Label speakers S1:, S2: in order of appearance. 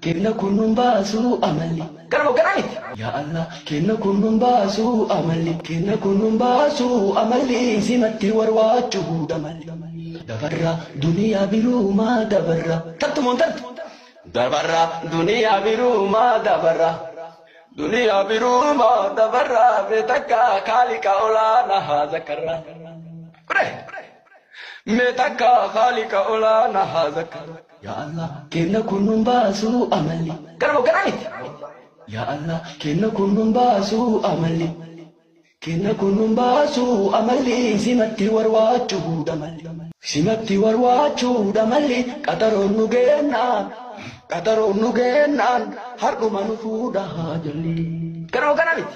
S1: Kenna kun nun baasu amalli. Kanamo gana miti. Yaa Allah kenna kun nun baasu amalli. Kenna kun nun baasu amalli. Simatti warwaachu huuda malli. Dabarra duniyaa biruuma dabarra. Tantu moon tantu. Dabarra duniyaa biruuma dabarra. Duniyaa biruuma dabarra. Beetakka kaaliqa olaana haa zakarra. Kudhee. Meetakka haaliqa olaana haa zakkaru. Yaa Allah kenna kun nun baasu amalli. Garbo gara miti. Yaa Allah kenna kun nun baasu amalli. Kenna kun nun baasu amalli simatti warwaachuudha malli. Simatti warwaachuudha malli qaxaroon nu geennaan qaxaroon nu geennaan hardhuma nu fuudha haa jalli. Garbo gara miti.